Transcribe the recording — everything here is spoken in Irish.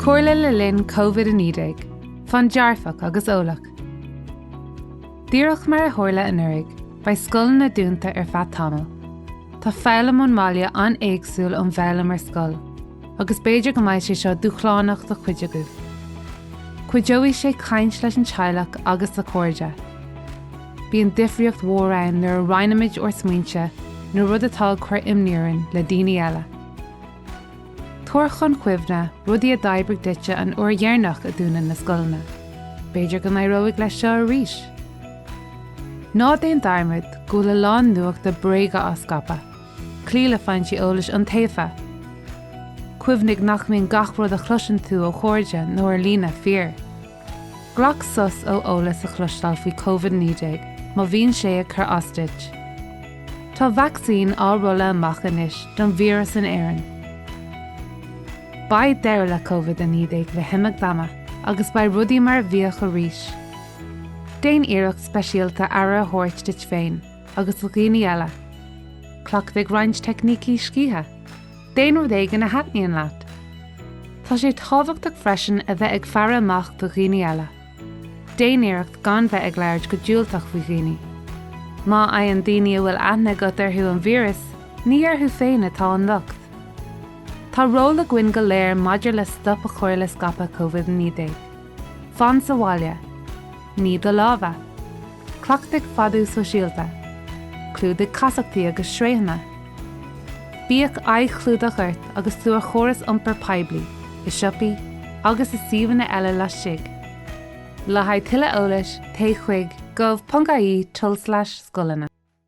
Comhairle le linn Covid-19, Fan dearfach agus eolach. Díreach mar a tharla anuraidh, beidh scoileanna dúnta ar feadh tamaill. Tá foghlaim ón mbaile an-éagsúil ón bhfoghlaim ar scoil, agus b'fhéidir go mbeidh sé seo dúshlánach do chuid agaibh. Cuideoidh sé caint leis an teaghlach agus le cairde. Bíonn difríocht mhór ann nuair a roinnimid ár smaointe nó rud atá ag cur imní orainn le daoine eile. Tabhair chun cuimhne rudaí a d'oibrigh duitse an uair dheireanach a dúnadh na scoileanna. B'fhéidir go n-éireoidh leis seo arís. Ná déan dearmad go bhfuil a lán nuachta bréige á scaipeadh, cloí le foinsí eolais iontaofa. Cuimhnigh nach mbíonn gach rud a chloiseann tú ó chairde nó ar líne fíor. Glac sos ó eolas a chloisteáil faoi Covid-19 má bhíonn sé ag cur as duit. Tá vacsaín á rolladh amach anois don víreas in Éirinn. Beidh deireadh le Covid-19 le himeacht ama agus beidh rudaí mar a bhíodh arís. Déan iarracht speisialta aire a thabhairt duit féin agus do dhaoine eile. Cleachtaigh roinnt teicnící scíthe. Déan rud éigin a thaitníonn leat. Tá sé tábhachtach freisin a bheith ag faire amach do dhaoine eile. Déan iarracht gan bheith ag labhairt go diúltach faoi dhaoine. Má fhaigheann daoine a bhfuil aithne agat orthu an víreas, ní orthu féin atá an locht. Tá ról againn go léir maidir le stop a chur le scaipeadh Covid-19. Fan sa bhaile. Nigh do lámha. Cleachtaigh fadú sóisialta. Clúdaigh casachtaí agus sraothanna. Bíodh aghaidhchlúdach ort agus tú ar chóras iompair poiblí, i siopaí agus i suíomhanna eile laistigh. Le haghaidh tuilleadh eolais, téigh chuig gov.ie tulslais scoileanna.